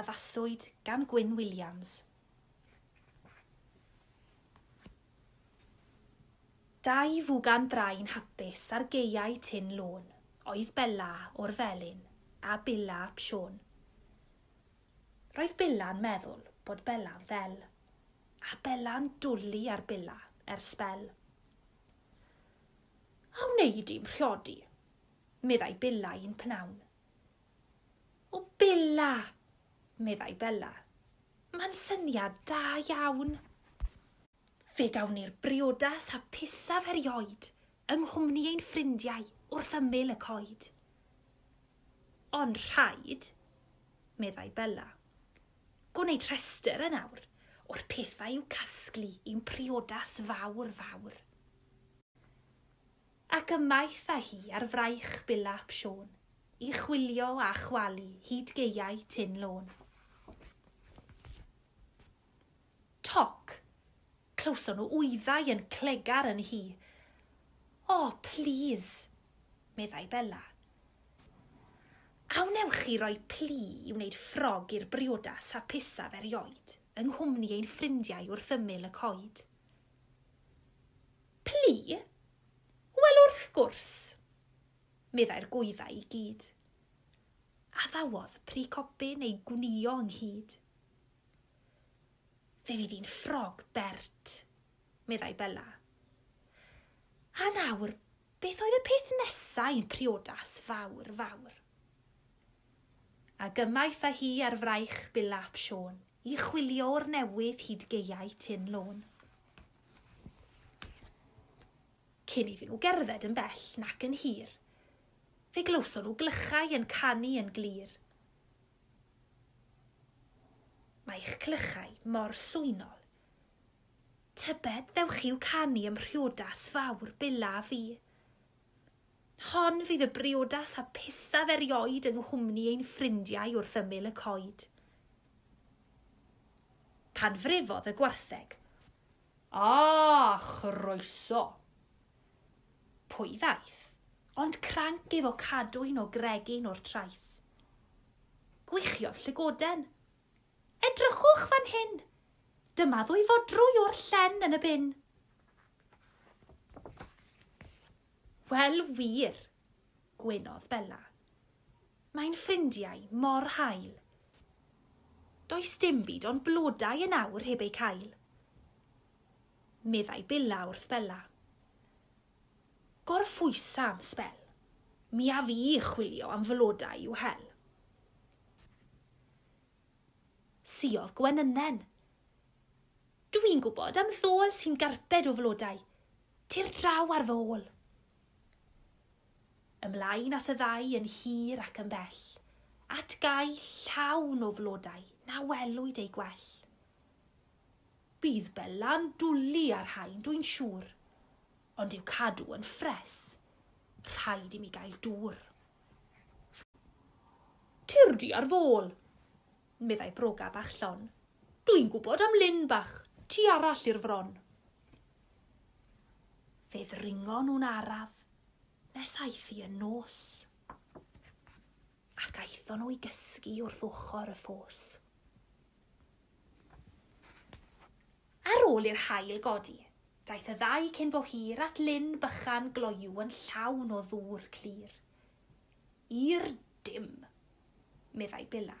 Addaswyd gan Gwyn Williams. Dau fwgan brain hapus ar gaeau Tyn Lôn oedd Bella o'r Felin a Billa ap Siôn. Roedd Billa'n meddwl bod Bella'n ddel, a Bella'n dwli ar Billa er sbel. A wneud i'm mhriodi, meddai Billa i'n pnawn. O Bella! meddai Bella. Mae'n syniad da iawn. Fe gawn ni'r briodas hapusaf erioed yng nghwmni ein ffrindiau wrth ymyl y coed. Ond rhaid, meddai Bella, gwneud rhestr yn awr o'r pethau i'w casglu i'n priodas fawr fawr. Ac ymaith â hi ar fraich Bill ap Siôn, i chwilio a chwalu hyd gaeau Tyn Lôn. Toc! Clywson nhw wyddau yn clegar yn hi. O, plîs! meddai Bella. A wnewch chi roi plu i wneud ffrog i'r briodas hapusaf erioed, yng nghwmni ein ffrindiau wrth ymyl y coed? Plu? Wel wrth gwrs! meddai'r gwyddau i gyd. Addawodd Pry Copyn ei gwnïo ynghyd. Fe fydd hi'n ffrog bert, meddai Bella. A nawr, beth oedd y peth nesaf i'n priodas fawr, fawr? A gymaith â hi ar fraich Billa ap Siôn. I chwilio'r newydd hyd gaeau Tyn Lôn. Cyn iddyn nhw gerdded yn bell nac yn hir, fe glywson nhw glychau yn canu yn glir. Mae'ch clychau mor swynol. Tybed ddewch i'w canu ym mhriodas fawr Billa a fi? Hon fydd y briodas hapusaf erioed yng nghwmni ein ffrindiau wrth ymyl y coed. Pan frifodd y gwartheg. A, chroeso! Pwy ddaeth? Ond cranc efo cadwyn o gregyn o'r traeth. Gwichiodd llygoden. Edrychwch fan hyn! Dyma ddwy fodrwy o'r llen yn y bin. Wel wir, gwenodd Bella. Mae'n ffrindiau mor hael. Does dim byd ond blodau yn awr heb eu cael. Meddai Billa wrth Bella. Gorffwysa am sbel. Mi af i chwilio am flodau i'w hel. Siodd gwenynnen. Dwi'n gwybod am ddôl sy'n garbed o flodau. Tir draw ar fy ôl. Ymlaen ath y ddau yn hir ac yn bell, at gae llawn o flodau na welwyd eu gwell. Bydd Bela'n dwli ar rhain, dwi'n siŵr. Ond i'w cadw yn ffres, rhaid i mi gael dŵr. Tir di ar fôl! meddai broga bach llon. Dwi'n gwybod am lyn bach tu arall i'r fron. Fe ddringo nhw'n araf nes aeth i yn nos. Ac aethon nhw i gysgu wrth ochr y ffos. Ar ôl i'r haul godi, daeth y ddau cyn bo hir at lyn bychan gloyw yn llawn o ddŵr clir. I'r dim! meddai Billa.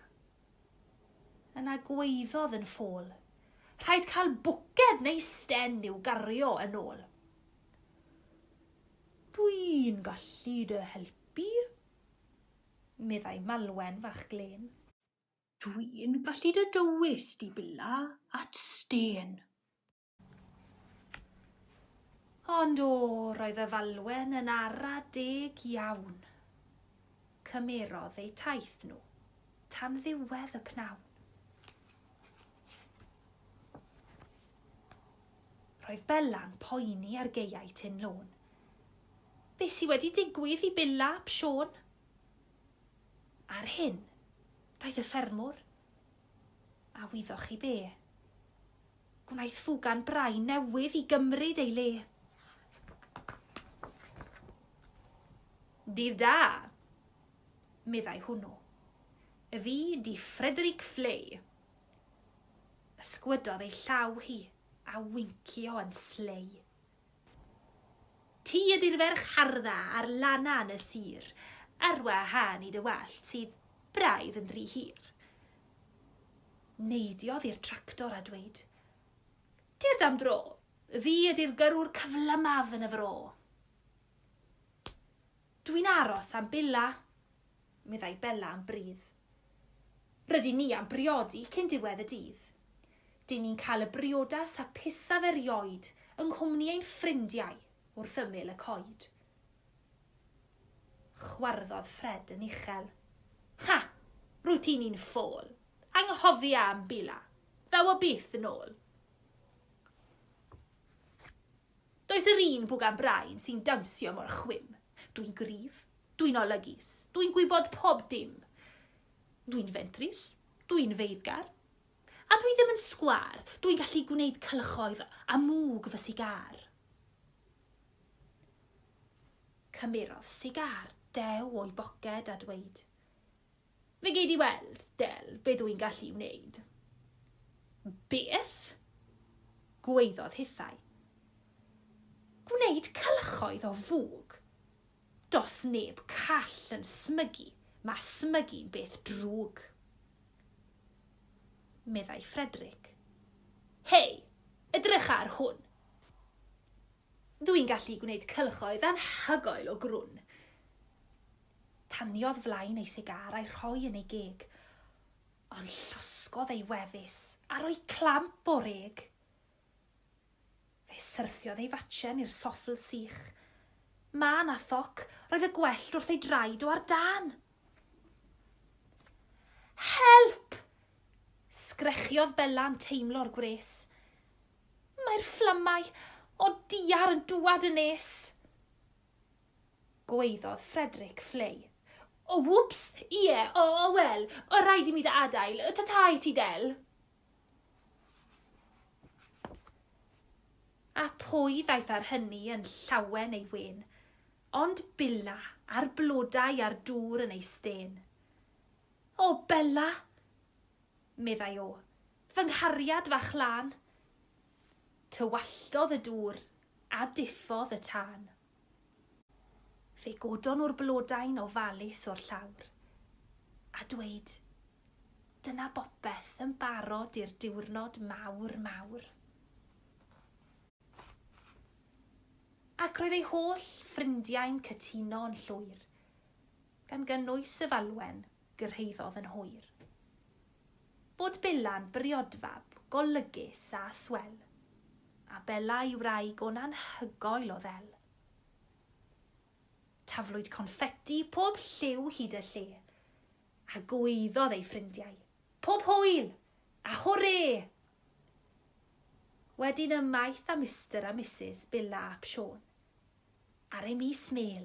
Yna gwaeddodd yn ffôl, Rhaid cael bwced neu sten i'w gario yn ôl. Dwi'n gallu dy helpu, meddai Malwen fach glên. Dwi'n gallu dy dywys di billa at stên. Ond o, roedd y falwen yn ara deg iawn. Cymerodd eu taith nhw tan ddiwedd y pnawn. Roedd Bella'n poeni ar geiau Tyn Lôn. Be sy wedi digwydd i Billa ap Siôn? Ar hyn, daeth y ffermwr. A wyddoch chi be? Gwnaeth ffwgan brain newydd i gymryd ei le. Dydd da, meddai hwnnw. Fi di Frederick Flay. Ysgwydodd ei llaw hi a wincio yn slei. Ti ydy'r ferch hardda ar lana yn y sir, ar wahân i dy wallt sydd braidd yn rhy hir. Neidiodd i'r tractor a dweud, Tyrd am dro, fi ydy'r gyrrwr cyflymaf yn y fro. Dwi'n aros am Billa, meddai Bella yn brudd. Rydyn ni am briodi cyn diwedd y dydd. Dyn ni'n cael y briodas hapusaf erioed yng nghwmni ein ffrindiau wrth ymyl y coed. Chwarddodd Fred yn uchel. Ha! Rwyt ti'n un ffôl. Anghofia am Billa. Ddaw o byth yn ôl. Does yr un bwgan brain sy'n dawnsio mor chwim. Dwi'n gryf, dwi'n olygus, dwi'n gwybod pob dim. Dwi'n fentrus, dwi'n feiddgar. A dwi ddim yn sgwâr, dwi'n gallu gwneud cylchoedd a mwg fy sigar. Cymerodd sigar dew o'i boced a dweud, Fe gei di weld, Del, be dw i'n gallu wneud. Beth? gwaeddodd hithau. Gwneud cylchoedd o fwg. Do's neb call yn smygu, mae smygu'n beth drwg. Meddai Frederick. Hei, edrycha ar hwn! Dw i'n gallu gwneud cylchoedd anhygoel o grwn. Taniodd flaen ei sigar a'i rhoi yn ei geg. Ond llosgodd ei wefus a rhoi clamp o'r eg. Fe syrthiodd ei fatchen i'r soffl sych. Mân a thoc, roedd y gwellt wrth ei draed o ar dân. Help! Sgrechiodd Bela'n teimlo'r gwres. Mae'r fflamau o diar yn dŵad yn nes. Gwaeddodd Frederick Fleay. O, wps! Ie, o, o, wel, o rhaid i mi dy adael. Ta-ta i ti, Del. A pwy ddaeth ar hynny yn llawen ei wen, ond Billa a'r blodau a'r dŵr yn ei stên. O, Bella! meddai o, fy nghariad fach lân. Tywalltodd y dŵr a diffodd y tân. Fe godon nhw'r blodau'n ofalus o'r llawr, a dweud, Dyna bopeth yn barod i'r diwrnod mawr, mawr. Ac roedd ei holl ffrindiau'n cytuno yn llwyr, gan gynnwys y falwen. gyrhaeddodd yn hwyr. Bod Bela'n briodfab golygus a swel, a Bela i wraig o'n anhygoel o ddel. Taflwyd confetti pob lliw hyd y lle, a gwaeddodd ei ffrindiau, Pob hwyl! A hwrê! Wedyn ymaith â Mister a Misus Bela ap Siôn, ar ei mis mêl,